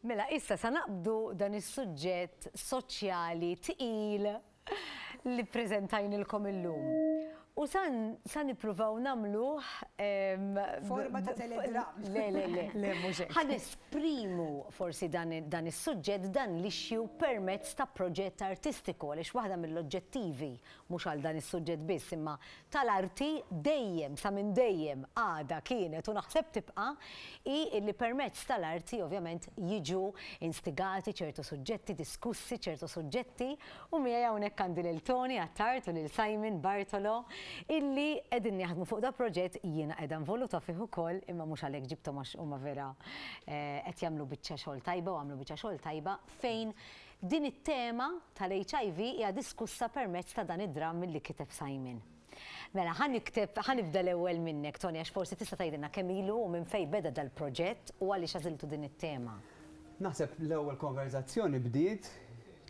Mela, issa sa naqbdu dan is-suġġett soċjali tqil li preżentajnilkom illum. U san sa nippruvaw nagħmluh Forma ta' telegram. Le, le, le. Le, mhux hekk. Ħa nesprimu forsi dan i- dan is-suġġett, dan l-issue permezz ta' proġett artistiku għaliex waħda mill-oġġettivi, mhux għal dan is-suġġett biss, imma tal-arti dejjem, sa minn dejjem, għadha, kienet u naħseb tibqa', hi illi permezz tal-arti ovvjament jiġu instigati ċertu suġġetti, diskussi ċertu suġġetti u miegħi hawnhekk għandi lil Tony Attard u lil Simon Bartolo illi qegħdin jaħdmu fuq da proġett jiena qiegħda involuta fih ukoll imma mhux għalhekk ġibthom għax huma vera qed jagħmlu biċċa xogħol tajba u għamlu biċċa xogħol tajba fejn Din it-tema tal-HIV hija diskussa permezz ta' dan id-dramm li kiteb Simon. Mela, ħa nikteb, ħa nibda l-ewwel minnek, Tony, għax forsi tista' tgħidilna kemm ilu u minn fejn beda dal-proġett u għaliex għażiltu din it-tema. Naħseb l-ewwel konverżazzjoni bdiet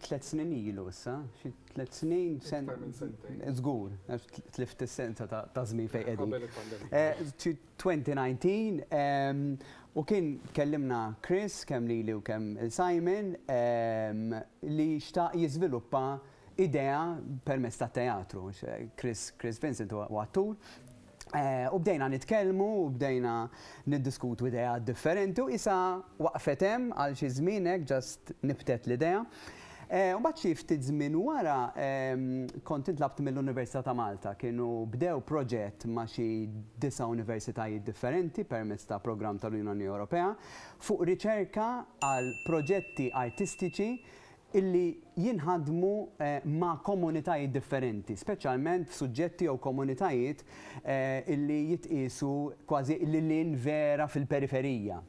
tliet snin ilu issa, xi tliet snin, sen- Iktar minn sentejn. Żgur, għax tlift is-sensa ta' ta' żmien fejn qegħdin. Qabel il-pandemija. Eh, xi 2019 u kien kellimna Chris kemm lili u kemm lil Simon li xtaq jiżviluppa idea permezz tat-teatru. Chris Chris Vincent huwa attur. U bdejna nitkellmu u bdejna niddiskutu ideat differenti u qisha waqfet hemm għal xi żmien hekk just nibtet l-idea. Mbagħad xi ftit żmien wara kont intlabt mill-Università ta' Malta. Kienu bdew proġett ma' xi disa' universitajiet differenti permezz ta' programm tal-Unjoni Ewropea fuq riċerka għal proġetti artistiċi li jinħadmu ma' komunitajiet differenti, speċjalment f'suġġetti jew komunitajiet li jitqiesu kważi lil hinn vera fil-periferija.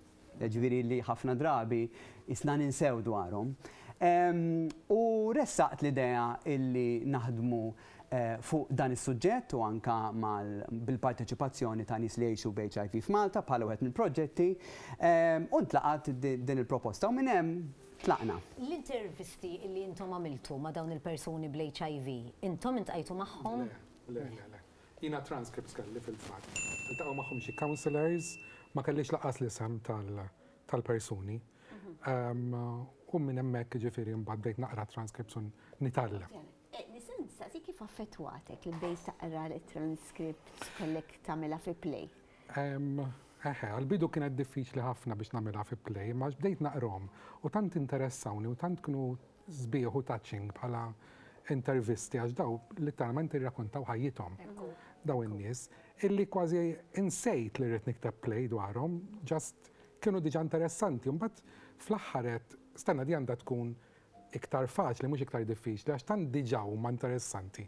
jiġifieri li ħafna drabi qisna ninsew dwarhom, u ressaqt l-idea illi naħdmu fuq dan is-suġġett u anke mal bil-parteċipazzjoni ta' nies li jgħixu b'HIV f'Malta bħala wieħed mill-proġetti, u ntlaqgħet din il-proposta u minn hemm tlaqna. L-intervisti illi intom għamiltu ma' dawn il-persuni bl-HIV, intom iltqajtu magħhom? Le, le, le, le. Jiena transcripts kelli fil-fatt. Iltaqgħu magħhom xi counsellors, ma kellix lanqas l-isem tal-persuni. U minn hemmhekk jiġifieri mbagħad bdejt naqra transcripts u nitgħallem. Nista' nistaqsi kif affettwatek li bdejt taqra l-transcripts kellek tagħmilha fi play? Eħe, għall-bidu kienet diffiċli ħafna biex nagħmilha fi play, imma għax bdejt naqrahom u tant interessawni u tant kienu sbieħ u touching bħala intervisti għax daw litteralment irrakuntaw ħajjithom daw in-nies illi kważi insejt li rrid nikteb play dwarhom just kienu diġà interessanti u mbagħad fl-aħħar għedt stenna di għandha tkun iktar faċli mhux iktar diffiċli għax tant diġà huma interessanti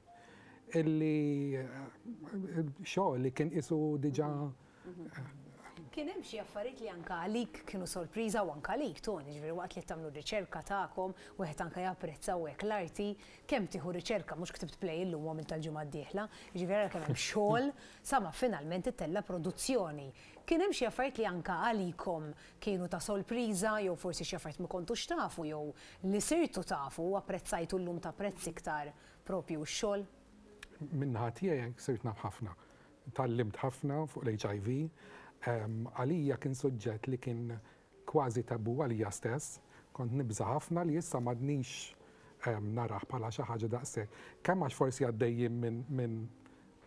illi xogħol li kien qisu diġà Kien hemm xi affarijiet li anke għalik kienu sorpriża u anke għalik Toni, jiġifieri waqt li qed tagħmlu r-riċerka tagħkom, wieħed anke japprezza u hekk l-arti, kemm tieħu riċerka, mhux ktibt play illum u għamiltha l-ġimgħa d-dieħla, jiġifieri ara kemm hemm xogħol sa ma finalment ittella' produzzjoni. Kien hemm xi affarijiet li anke għalikom kienu ta' sorpriża jew forsi xi affarijiet ma kontux tafu jew li sirtu tafu u apprezzajtu llum tapprezz iktar proprju x-xogħol? Min-naħa tiegħi sirt naf ħafna. Tgħallimt ħafna fuq l-HIV. Għalija kien suġġett li kien kważi tabù għalija stess. Kont nibża' ħafna li issa m'għadnix narah bħala xi ħaġa daqshekk. Kemm għax forsi għaddejjin minn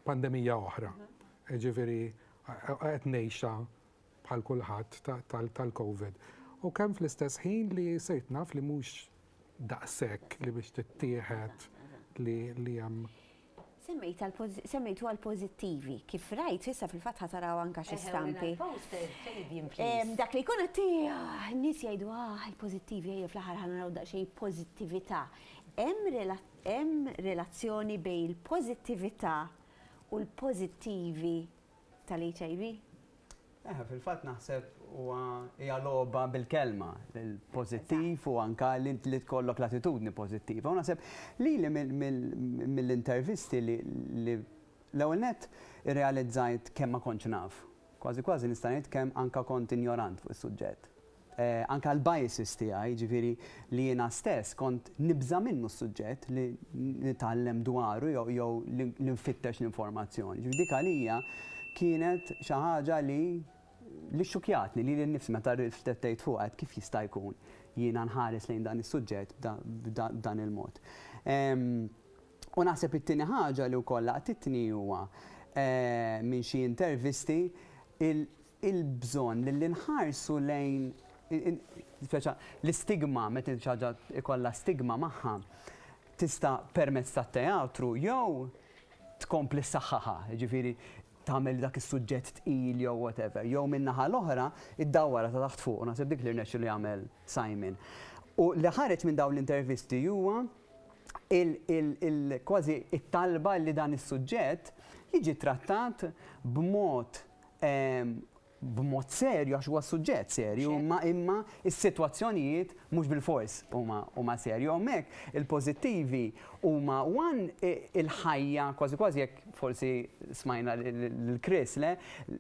pandemija oħra, jiġifieri qed ngħixha bħal kulħadd tal-Covid. U kemm fl-istess ħin li sirt naf li mhux daqshekk li biex tittieħed li hemm Semmejtu għal pożittivi. Kif rajt, issa fil-fatt ħataraw anka xi stampi. Dak li jkun qed ah, nies jgħidu ah il-pożittivi ejja fl-aħħar ħa naraw daqsxejn pożittività. Hemm relazzjoni bejn il-pożittività u l-pożittivi tal-HIV? Eħe, fil-fatt naħseb huwa hija logħba bil-kelma, il-pożittiv u anke li tkollok l-attitudni pożittiva. U naħseb lili mill-intervisti li l-ewwel nett irrealizzajt kemm ma kontx naf. Kważi kważi nista' ngħid kemm anke kont injorant fuq is-suġġett. anke l-biases tiegħi, jiġifieri li jiena stess kont nibża' minnu s-suġġett li nitgħallem dwaru jew li nfittex l-informazzjoni. Ġifieri dik għalija kienet xi ħaġa li li xxukjatni lili nnifsi meta rriflettejt fuqha, għedt kif jista' jkun jiena nħares lejn dan is-suġġett b'dan il-mod. U naħseb it-tieni ħaġa li wkoll laqtitni huwa minn xi intervisti il-bżonn li nħarsu lejn speċa l-istigma meta xi ħaġa ikollha stigma magħha tista' permezz tat-teatru jew tkompli ssaħħaħha, jiġifieri tagħmel dak is-suġġett tqil jew whatever, jew min-naħa l-oħra iddawwarha ta' taħt fuq u naħseb dik li rnexxielu jagħmel Simon. U li ħareġ minn dawn l-intervisti huwa kważi it-talba li dan is-suġġett jiġi trattat b'mod b'mod serju għax huwa suġġett serju, imma imma is-sitwazzjonijiet mhux bilfors huma huma serju. Hawnhekk il-pożittivi huma one il-ħajja kważi kważi jekk forsi smajna lil Chris le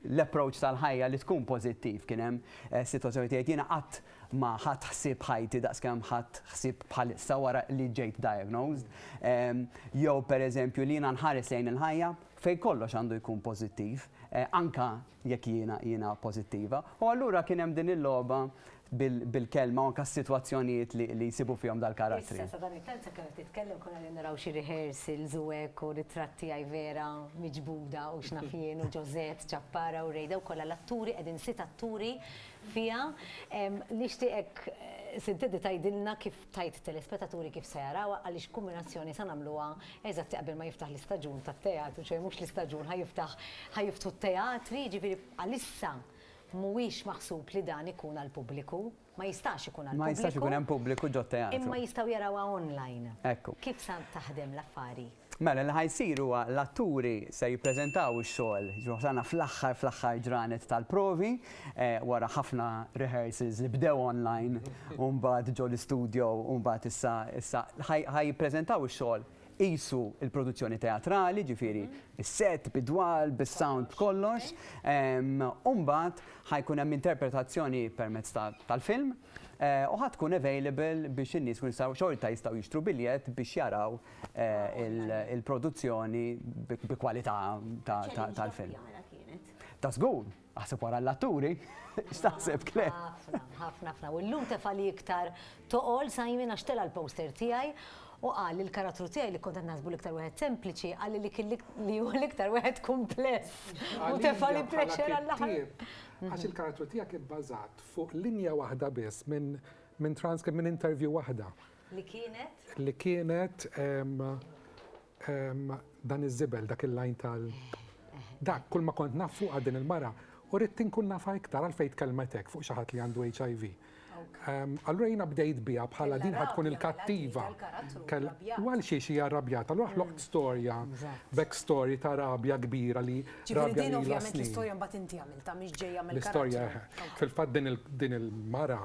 l-approach tal-ħajja li tkun pożittiv kien hemm sitwazzjoni tgħid jiena qatt ma ħadt ħsieb ħajti daqskemm ħadt ħsieb bħalissa wara li ġejt diagnosed. Jew pereżempju li jiena nħares lejn il-ħajja fejn kollox għandu jkun pożittiv, anke jekk jiena jiena pożittiva, u allura kien hemm din il-logħba bil-kelma u anke s-sitwazzjonijiet li jsibu fihom dal-karattri. Issa sadan it-tant sakemm qed titkellem konna qegħdin naraw xi rehearsals u hekk u ritratt tiegħi Vera miġbuda u x'naf jien u Ġożett, Ċappara u Rejda u kollha l-atturi qegħdin sitt atturi fiha. Nixtieqek Sid Teddy tgħidilna kif Tgħid telespetaturi kif se jarawha għaliex kumbinazzjoni sa nagħmluha eżatti qabel ma jiftaħ l-istaġun tat-teatru, ċoe mhux l-istaġun ħa jiftaħ ħa jiftħu t-teatri, jiġifieri għalissa mhuwiex maħsub li dan ikun għall-pubbliku, ma jistax ikun għall-pubbliku. Ma jistax ikun hemm pubbliku ġot-teatru. Imma jistgħu jarawha online. Ekku. Kif sa taħdem l-affari? Mela li ħa jsir huwa l-atturi se jippreżentaw ix-xogħol, jiġifieri wasalna fl-aħħar fl-aħħar ġranet tal-provi, wara ħafna rehearsals li bdew online u mbagħad ġo l-istudio u mbagħad issa issa ħa jippreżentaw ix-xogħol qisu l-produzzjoni teatrali, jiġifieri s-set, bid-dwal, bis-sound, b'kollox. U mbagħad ħa jkun hemm interpretazzjoni permezz tal-film u ħa tkun available biex in-nies ikunu jistgħu xorta jistgħu jixtru biljett biex jaraw il-produzzjoni bi kwalità tal-film. Ta' żgur, aħseb wara l-atturi, x'taħseb Claire? Ħafna, ħafna, ħafna. U llum tefa' li iktar toqol Simon għax tela' l-poster tiegħi u qal li l-karattru tiegħi li kont qed naħsbu l-iktar wieħed sempliċi qalli li kien li hu l-iktar wieħed kumpless. U tefa' li pleċer għall-aħħar. Għax il-karattru tiegħek ibbażat fuq linja waħda biss minn transcript minn interview waħda. Li kienet? Li kienet dan iż-żibel, dak il-lajn tal. Dak, kull ma kont naf fuqha din il-mara, u ridt inkun nafha iktar għalfejn tkellmet hekk fuq xi ħadd li għandu HIV. Allura jiena bdejt biha bħala din ħadd tkun il-kattiva. U għal xiex hija rrabjata, allura ħloqt storja, back story ta' rabja kbira li. Ġifieri din ovvjament l-istorja mbagħad inti għamiltha mhix ġejja mill-karattru. L-istorja, fil-fatt din il-mara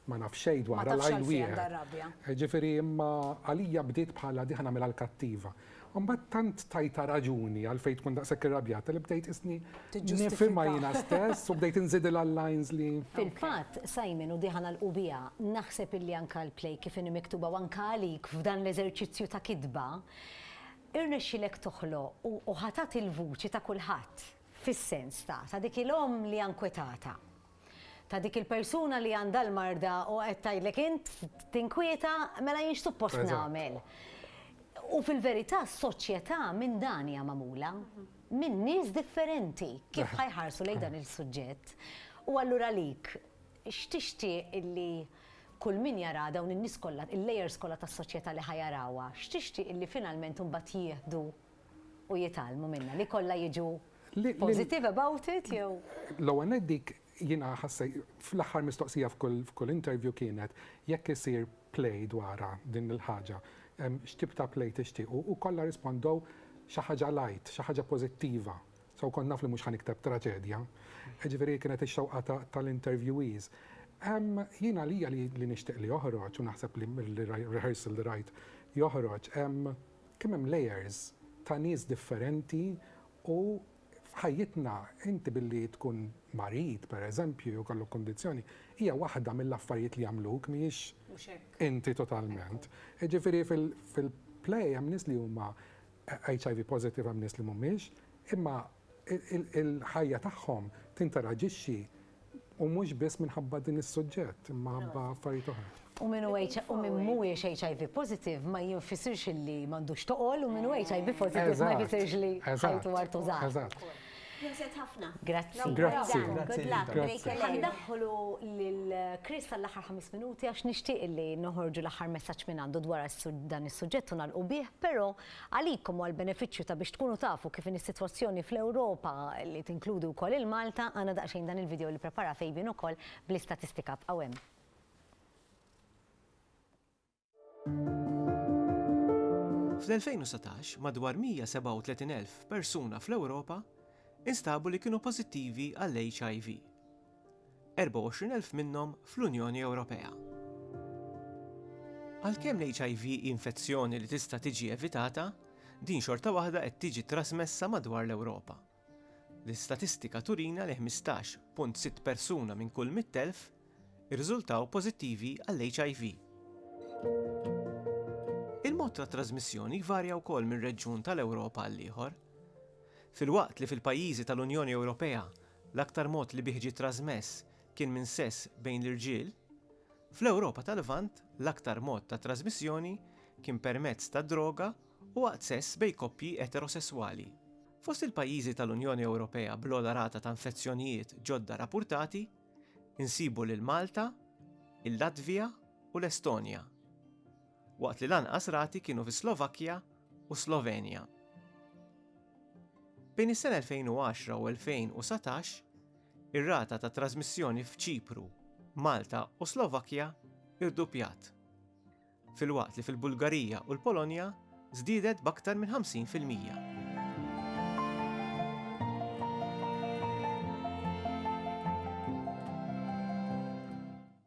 Ma naf xejn dwarha l-għajn wieħed. Ma tafx għalfejn għandha r-rabja. Ġifieri imma għalija bdiet bħala diħ nagħmilha l-kattiva. Imbagħad tant tajtha raġuni għalfejn tkun daqshekk irrabjata li bdejt qisni nifhimha jiena stess u bdejt inżidilha l-lines li. Fil-fatt, Simon, u diħa nagħlqu biha, naħseb illi anke l-play kif inhi miktuba u anke għalik f'dan l-eżerċizzju ta' kitba, irnexxielek toħloq u ħatat il-vuċi ta' kulħadd fis-sens ta' dik il-omm li hija nkwetata. ta' dik il-persuna li għandha l-marda u qed tgħidlek int tinkwieta mela jien x'suppost nagħmel. U fil-verità s-soċjetà minn dan hija magħmula, minn nies differenti kif ħajħarsu lejn dan il-suġġett. U allura għalik, x'tixtieq illi kull min jara dawn in-nies kollha, il-layers kollha tas-soċjetà li ħa jarawha, x'tixtieq illi finalment imbagħad jieħdu u jitgħallmu minnha, li kollha jiġu positive about it jew? L-ewwel nett dik jiena ħassejt, fl-aħħar mistoqsija f'kull interview kienet jekk isir play dwarha din il-ħaġa, x'tip ta' play tixtiequ u kollha rispondew xi ħaġa light, xi ħaġa pożittiva. So kont naf li mhux ħa nikteb traġedja. Jiġifieri kienet ix-xewqa tal-interviewees. Jien għalija li nixtieq li joħroġ u naħseb li r-rehearsal li rajt joħroġ, Kemm hemm layers ta' nies differenti u f'ħajjitna inti billi tkun marid pereżempju jew jkollok kundizzjoni hija waħda mill-affarijiet li jagħmluk mhijiex inti totalment. Jiġifieri fil-play hemm nies li huma HIV positive hemm nies li mhumiex imma il-ħajja tagħhom tinteraġixxi u mhux biss minħabba din is-suġġett imma ħabba affarijiet oħra. U min hu u min mhuwiex HIV positive ma jinfisirx li m'għandux toqol u min hu HIV positive ma jfisirx li ħajtu għar tużar. Eżatt. Proset ħafna. Grazzi. Grazzi. Good luck. Grazzi. Ħandaħħlu lil Chris għall-aħħar ħames minuti għax nixtieq li noħorġu l-aħħar messaġġ minn għandu dwar dan is-suġġett u nagħlqu bih, però Għalikom u għall-benefiċċju ta' biex tkunu tafu kif inhi s-sitwazzjoni fl-Ewropa li tinkludi wkoll il-Malta, għandna daqsxejn dan il-video li pprepara Fabian ukoll bl-istatistika. Bqgħu hemm. Fl-2019, madwar 137,000 persuna fl-Ewropa instabu li kienu pożittivi għall-HIV. 24,000 minnhom fl-Unjoni Ewropea. Għalkemm l-HIV hi infezzjoni li tista' tiġi evitata, din xorta waħda qed tiġi trasmessa madwar l-Ewropa. L-istatistika turina li 15.6 persuna minn kull 100,000 irriżultaw pożittivi għall-HIV. Il-mod ta' trasmissjoni jvarja wkoll minn reġjun tal-Ewropa għal ieħor. Filwaqt li fil-pajjiżi tal-Unjoni Ewropea l-aktar mod li bih ġie trażmess kien minn sess bejn l-irġiel, fl-Ewropa tal-Lvant l-aktar mod ta' trażmissjoni kien permezz ta' droga u waqt sess bejn koppji eterosesswali. Fost il-pajjiżi tal-Unjoni Ewropea bl-ogħla rata ta' infezzjonijiet ġodda rappurtati nsibu lil Malta, il-Latvija u l-Estonja, waqt li l-anqas rati kienu fis-Slovakkja u s-Slovenja. Bejn is-sena 2010 u 2019, ir-rata ta' trażmissjoni f'Ċipru, Malta u Slovakkja irduppjat, filwaqt li fil-Bulgarija u l-Polonja żdiedet b'aktar minn 50 fil-mija.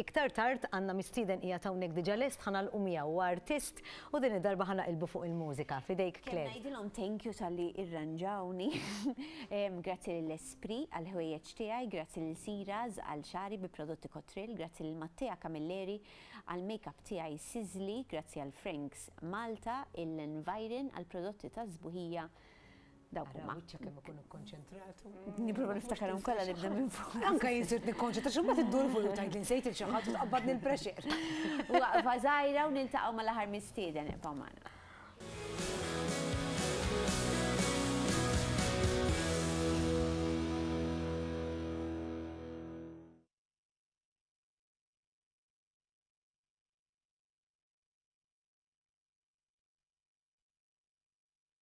Iktar tard għandna mistieden qiegħed hawnhekk diġa lest ħa nagħlqu miegħu, huwa artist u din id-darba ħa naqilbu fuq il-mużika. F'idejk Claire. Kemm ngħidilhom thank you talli irranġawni. Grazzi lil Esprit għal ħwejjeġ tiegħi, grazzi lil Siras għal xagħri bi prodotti Cotril, grazzi lil Mattea Camilleri għal makeup tiegħi Sizzli, grazzi għal Franks Malta, il-Environ għall-prodotti tas-sbuħija, Dawk huma. Wiċċek kemm ikun ikkonċentratu. Nipprova niftakarhom kollha nibda minn fuq. Anke jinsirt nikkonċentra xi mbagħad iddur fuq tajt li nsejt il xi ħadd u tqabbadni l-pressure. Waqfa żgħira u niltaqgħu mal-aħħar mistieden ibqa' magħna.